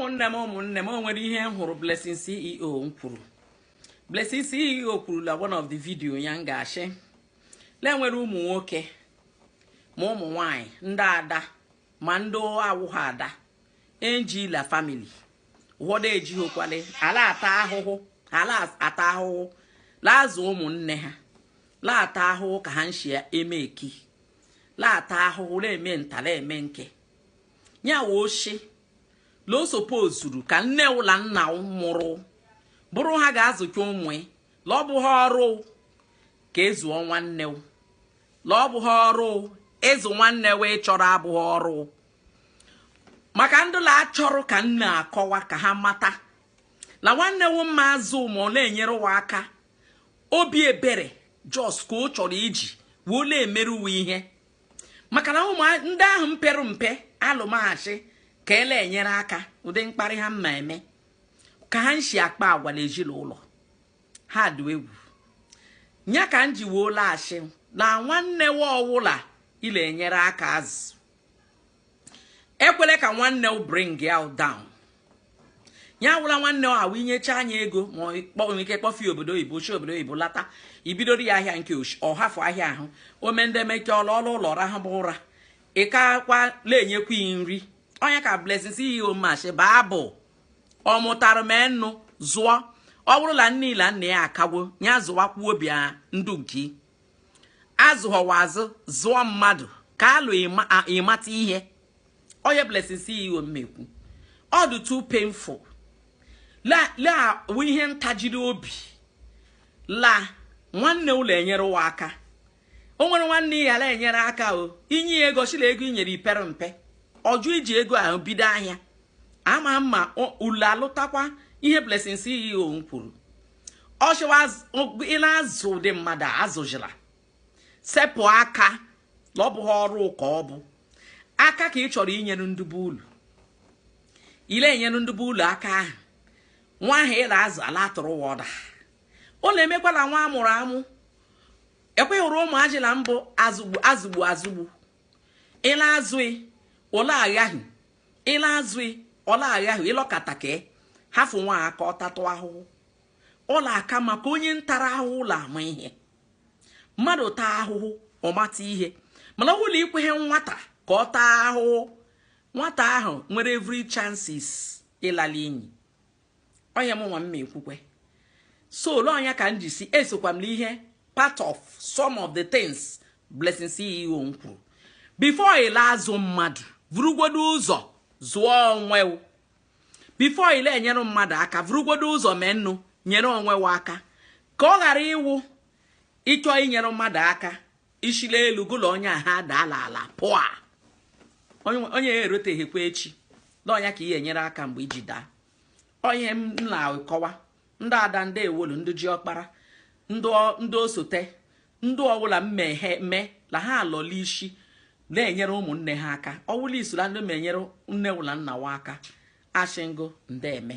ụmụnne m ụmụnne m o nwere ihe m hụrụ Blessing CEO nkwuru Blessing CEO kwuru la one of the video ya nga ọ shị le nwere ụmụ nwoke ma ụmụ nwanyị ndị ada ma ndị awụghị ada e nji la family ụfọdụ ejighịkwale a la-ata ahụhụ la-azụ ụmụnne ha la-ata ahụhụ ka ha nshi eme eki la-ata ahụhụ na-eme nta la-eme nke ya wụ ọ shị la o sopozuru ka nne wụ la nna wụ mụrụ bụrụ ha ga-azụcha ụmụ ya la ọ bụghị ọrụ ka ịzụọ nwanne wụ la ọ bụghị ọrụ ịzụ nwanne wụ ị chọrọ abụghị ọrụ maka ndị la-achọrọ ka m na-akọwa ka ha mata la nwanne wụ mma azụ ma ọ la-enyere wụ aka obi ebere just ka ọ chọrọ iji wee la-emeru wụ ihe maka la ụmụ ndị ahụ mpere mpe alụma a shị ka e la-enyere aka ụdị mkparị ha mma eme ka ha nshi akpa agwa la ezi la ụlọ ha dị egwu nya ka m ji wee la-ashị la nwanne wụ ọwụla ị la-enyere aka azụ ekwele ka nwanne wụ bring you down ya wụ la nwanne ahụ ị nyecha nya ego ma nwere ike kpọfee obodo oyibo shi obodo oyibo lata i bidoro ya ahịa nke ọ hafụ ahịa ahụ ome ndị emeke ọ la ụlọ rahụba ụra ị kakwa la-enyekwa ya nri onye ka Blessing CEO mma ashị baabụ ọ mụtara m enu zụọ ọ bụrụ la nne ya la nna ya akagwo ya zụwakwuo obi ndu nke azụghọwa azụ zụọ mmadụ ka alụ ịmata ihe onye Blessing CEO mma ekwu ọ dị too painful la wụ ihe ntajiri obi la nwanne wụ la-enyere wụ aka o nwere nwanne ị ya la-enyere aka o i nye ya ego ọ shị la ego i nyere ya pere mpe ọ jụ iji ego ahụ bido ahịa ama m ma ulu alụtakwa ihe Blessing CEO nkwuru ọ shị ị la-azụ ụdị mmadụ azụjila sepụ aka la ọ bụghị ọrụ ka ọ bụ aka ka ị chọrọ inyere ndị be ulu ị la-enyere ndị be ulu aka ahụ nwa ahụ ị la-azụ a la-atụrụ ụwa ọda ọ la-emekwala nwa amụrụ amụ ekweghị ụrụ ụmụ ajịla mbụ azụgbu azụgbu ị la-azụ ya ọ la-aghaghị ị la-azụ ya ọ la-agha ahụ ị lọkata ka hafụ nwa aka ọ tatụ ahụhụ ọ la-aka maka onye ntara ahụhụ la-ama ihe mmadụ taa ahụhụ ọ mata ihe mala ọ bụrụ la ị kweghị nwata ka ọ taa ahụhụ nwata ahụ nwere every chances ịla la inyi onye m nwa mma ekwukwe so ole ọ nya ka m ji sị esokwa m n'ihe part of some of the things Blessing CEO m kwuru before ị la-azụ mmadụ vurugwodo ụzọ zụọ onwe before ị la-enyere mmadụ aka vurugwodo ụzọ mee nnu nyere onwe aka ka ọ ghara ịwụ ị chọọ inyere mmadụ aka i shi l'elu gụ la onye aha daa l'ala pụa onye ya eroteghịkwa echi na ọ nya ka i enyere aka mgbe i ji daa ọ ihe m la-akọwa ndị ada ndị ewolu ndị ji ọkpara ndị osote ndị ọbụla mme la ha lọ l'ishi na-enyere ụmụnne ha aka ọwụla i so la ndị ma enyere nne wa la nna wa aka ashị m gụ ndeme